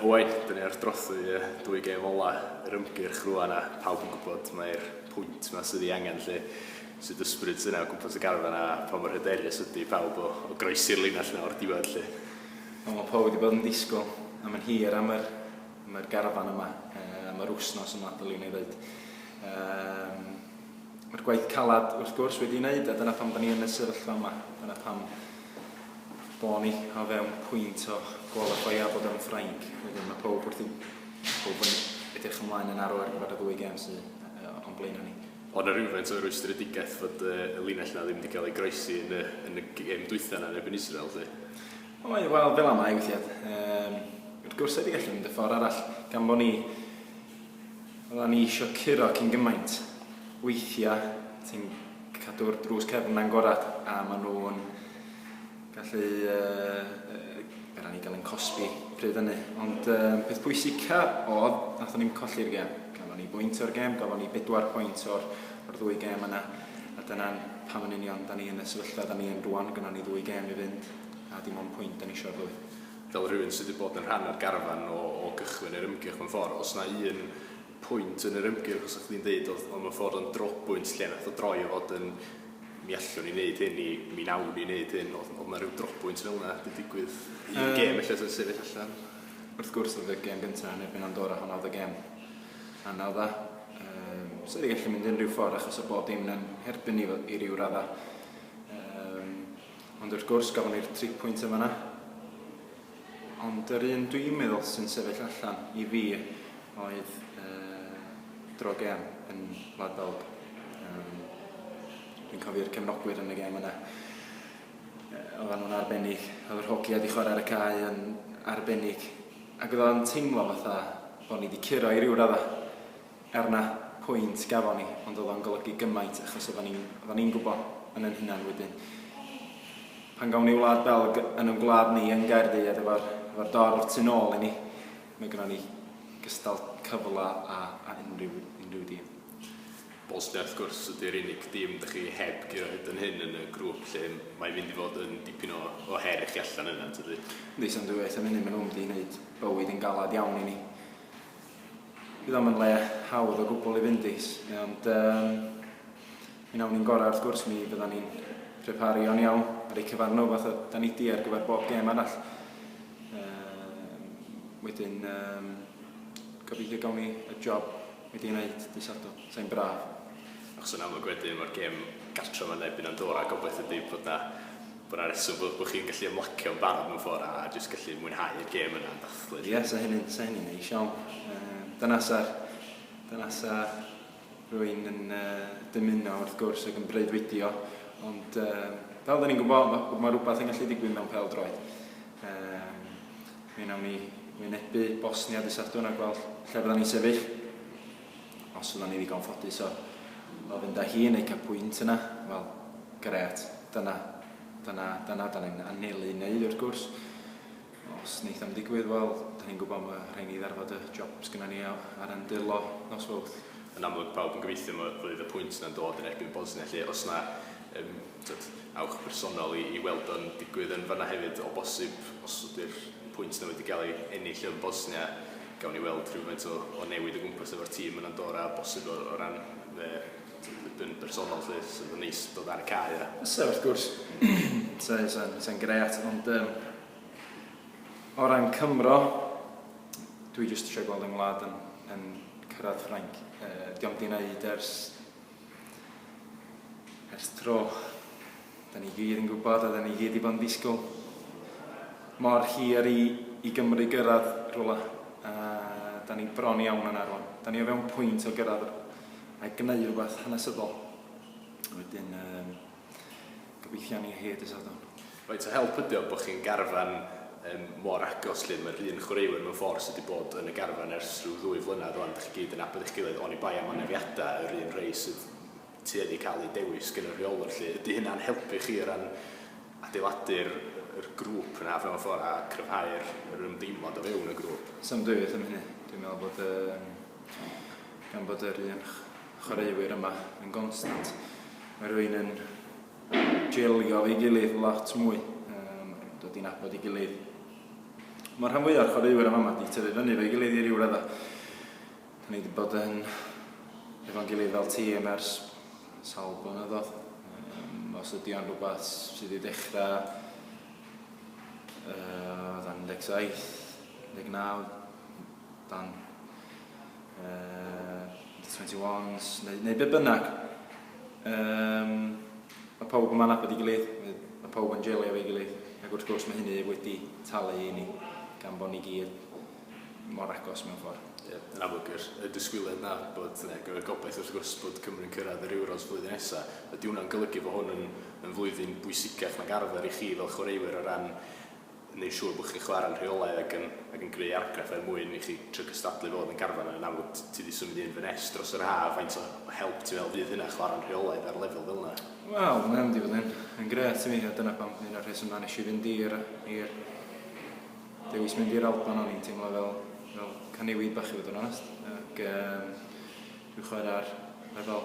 O waith, dyn ni wrth drothwy y dwy gêm ola yr ymgyrch rwan a pawb yn gwybod mai'r pwynt yma sydd ei angen lle. Sut ysbryd yna o gwmpas y garfan a pa mor hyderus ydy pawb o, o groesi'r linell yna o'r diwedd lle? Wel, mae pawb wedi bod yn disgwyl am yn hir am yr, am yr garfan yma, am yr wsnos yma, dylwn i ddweud. Um, Mae'r gwaith calad wrth gwrs wedi ei wneud a dyna pam da ni yn y sefyllfa yma. Dyna pam Bo ni o fewn pwynt o gwalifeio a bod o'n Ffrainc wedyn ma' powb wrth 'i powb yn edrych ymlaen yn arw ar gyfer y ddwy gem sy yy o'n blaena ni. O' 'na rywfaint o rwystredigaeth fod yy y linell 'na ddim 'di ga'l ei groesi yn y yn y gem dwytha 'na yn erbyn Israel 'lly? Oedd wel fel amau withia yym wrth gwrs rhaid i gallu mynd y ffor arall gan bo ni Oddan ni isio curo cyn gymaint. Weithia ti'n cadw'r drws cefn na'n gorad a ma nhw'n gallu yy yy ni gael ein cosbi pryd hynny. Ond yy peth pwysica odd nathon ni'm colli'r gem. Gafon ni bwynt o'r gem gafon ni bedwar pwynt o'r o'r ddwy gem yna a dyna'n pam yn union da ni yn y sefyllfa da ni yn rwan gynnon ni ddwy gem i fynd a dim ond pwynt da ni isio o'r ddwy. fel rhywun sydd wedi bod yn rhan o'r garfan o o gychwyn yr ymgyrch mewn ffordd, os na un pwynt yn yr ymgyrch fysa chdi'n deud oedd oedd mewn ffordd o'n drobwynt lle nath o droi o fod yn mi allwn ni neud hyn i mi nawn ni neud hyn oedd oedd na ryw drobwynt fel yna wedi digwydd un um, gêm ella sy'n sefyll allan? Wrth gwrs oedd y gêm gyntaf yn erbyn Andorra hwnna oedd y gêm anodd dda. Um, so wedi gallu mynd yn rhyw ffordd achos o bob dim yn herbyn ni i ryw radda. Um, Ond wrth gwrs, gafon ni'r tri pwynt yn fan'na. Ond yr un dwi'n meddwl sy'n sefyll allan i fi oedd uh, dro gem yn Wlad Belg. Um, dwi'n cofio'r cefnogwyr yn y gem yna. Uh, oedden nhw'n arbennig. Oedd yr hogia wedi chwarae ar y cae yn arbennig. Ac oedd o'n teimlo fatha bod ni wedi curo i ryw raddau. Er na pwynt gafon ni, ond o'dd o'n golygu gymaint achos oddan ni'n oddan ni'n gwbo yn yn hunan wedyn pan gawn ni Wlad Belg yn yn gwlad ni yn Gaerdydd efo'r efo'r dorf tu nôl i ni, ma' gynno ni gystal cyfla a a unrhyw unrhyw dîm. Bosnia wrth gwrs ydi'r unig dîm dych chi heb guro hyd yn hyn yn y grŵp lly, mae'n mynd i fod yn dipyn o o her i chi allan yna yntydi? Yndi so am dwywaith yn munud ma' nhw'n mynd i neud bywyd yn galad iawn i ni. Bydd o'm yn le hawdd o gwbl i fynd i, ond um, mi nawn ni'n gorau wrth gwrs, mi fyddan ni'n preparu o'n iawn ar eu cyfar nhw fath o da ni di ar gyfer bob gêm arall. Um, wedyn, um, gobeithio gawn ni y job wedi ei wneud dy sadwn, sa'n braf. Achos yn amlwg wedyn mae'r gêm gartref yn erbyn Andorra, gobeithio ydy bod na Dyna'r rheswm bod bod chi'n gallu ymlacio'n barod mewn ffordd a a jyst gallu mwynhau'r gêm yna yn dathlu 'lly. Ie, 'sa hynny'n, 'sa hynny'n neis iawn. Yym, dyna 'sa, dyna 'sa rwy'n yn yy dymuno wrth gwrs ac yn breuddwydio, ond yym, fel 'dyn ni'n gwybod, ma' ma' rwbath yn gallu digwydd mewn pêl-droed. Yym, mi wnawn ni wynebu Bosnia dy' Sadwrn a gweld lle fyddan ni'n sefyll. os fyddwn ni ddigon ffodus o, o fynd â hi yn eu cael pwynt yna, wel, gret, dyna, dyna, dyna da ni'n anelu i wneud wrth gwrs. Os wneith am ddigwydd, wel, da ni'n gwybod mae rhaid ni ddarfod y job sgynna ni ar yn dyrlo nos fawrth. Yn amlwg pawb yn gobeithio mae fydd y pwynt yna'n dod yn erbyn Bosnia lle os na um, t'od, awch personol i i weld o'n digwydd yn fan'na hefyd o bosib, os ydy'r pwynt 'na wedi ga'l ei ennill yn Bosnia, gawn ni weld rhywfaint o o newid o gwmpas efo'r tîm yn Andorra, bosib o o ran fy t'od yn bersonol 'lly, so bydd o'n neis dod ar y cae a... Fysa wrth gwrs, fysa fysa fysa'n grêt, ond yym o ran Cymro, dwi jyst isio gweld 'y ngwlad yn yn cyrradd Ffrainc, yy 'di o'm 'di neud ers Ers tro. Da ni gyd yn gwybod a da ni gyd wedi bod yn disgwyl mor hir i, i Gymru gyrraedd rhywle. A da ni bron iawn yna rwan. Da ni o fewn pwynt o gyrraedd a gwneud rhywbeth hanesyddol. Wedyn, um, Gobeithio ni hyd y Sadwrn. Faint o help ydy o bod chi'n garfan yym mor agos 'lly? Mae'r un chwaraewyr mewn ffordd sydd wedi bod yn y garfan ers rhyw ddwy flynedd rŵan, dach chi gyd yn nabod eich gilydd, oni bai am anafiadau yr un rhai sydd tueddu cael eu dewis gan y rheolwr 'lly. Ydy hynna'n helpu chi o ran adeiladu'r yr grŵp yna mewn ffordd a cryfhau'r yr ymdeimlad o fewn y grŵp? Sa'm dwywaith am hynny. Dwi'n meddwl bod yym gan bod yr un chwaraewyr yma yn gonstant. Mae rwy'n yn jelio ei gilydd lot mwy, um, dod i'n abod ei gilydd. Mae'r rhan fwyaf o'r chwaraewyr yma wedi tyfu fyny fe'i gilydd i ryw radda. Da ni wedi bod yn efo'n gilydd fel tîm ers sawl blynyddoedd. Um, os ydy o'n rhywbeth sydd wedi dechrau uh, 17, 19, dan uh, under 21s neu, neu be bynnag. Um, mae pawb yma'n abod i gilydd, mae pawb yn jelio efo'i gilydd, ac wrth gwrs mae hynny wedi talu i ni gan bod ni gyd mor agos mewn ffordd. Ie, yeah, yn amlwg yr, y disgwyliad na bod ne, y gobaith wrth gwrs bod Cymru'n cyrraedd yr Euros flwyddyn nesaf. Ydy hwnna'n golygu bod hwn yn, yn flwyddyn bwysicach nag arfer i chi fel chwaraewyr o ran wneud siŵr bod chi'n chwarae'n rheolaidd ac yn, ac yn greu argraff er mwyn i chi trio cystadlu fod yn garfan yn amlwg t- ti 'di symud un fy nest dros yr haf faint o o help ti'n meddwl fydd hynna chwarae'n rheolaidd ar lefel fel 'na? Wel mae o mynd i fod yn yn grêt i mi a dyna pam un o'r rhesymau nes i fynd i'r i'r dewis mynd i'r Alban o'n i'n teimlo fel fel caniwyd bach i fod yn onest ac yym dwi'n chwarae ar lefel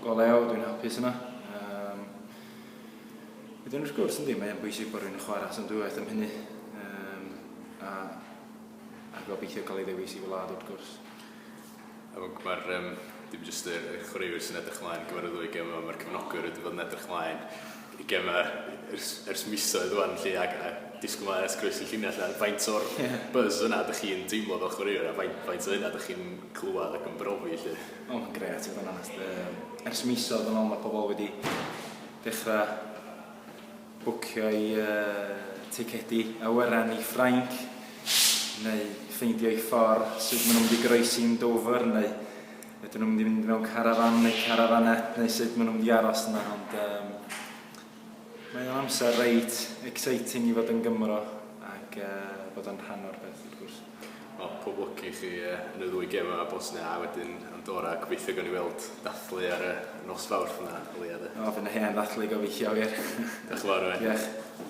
go lew dwi'n hapus yna yym Wedyn wrth gwrs yndi mae'n bwysig bod rhywun yn chwarae at amrywiaeth am hynny um, a, a gobeithio cael ei ddewis i wlad wrth gwrs. Amlwg mae'r um, dim jyst y, y chwaraewyr sy'n edrych ymlaen i gyfer y ddwy gem yma, mae'r cefnogwyr wedi bod yn edrych ymlaen i gem ers, ers misoedd wan lle ac a disgwyl mae ers groes y llinell a faint o'r buzz yna ydych chi'n teimlo fel chwaraewyr a faint, faint o hynna ydych chi'n clywed ac yn brofi lle? O, mae'n gret i fod yn onest. Um, ers misoedd yn ôl mae pobl wedi Dechrau bwcio'u ticedi awyren i Ffrainc, neu ffeindio'u ffordd sut maen nhw'n mynd i groesi'n Dover, neu ydyn nhw'n mynd i fynd mewn carafan neu carafanette, neu sut maen nhw'n mynd i aros yna, ond um, mae o'n amser reit exciting i fod yn Gymro ac uh, bod o'n rhan o'r peth, wrth gwrs. O, pob lwc i chi yy yn y ddwy gem yma, Bosnia a wedyn Andorra. Gobeithio gawn ni weld dathlu ar y nos Fawrth 'na o leia 'de. O, fy' 'na hen ddathlu gobeithio wir. Diolch yn fawr Owain. Diolch.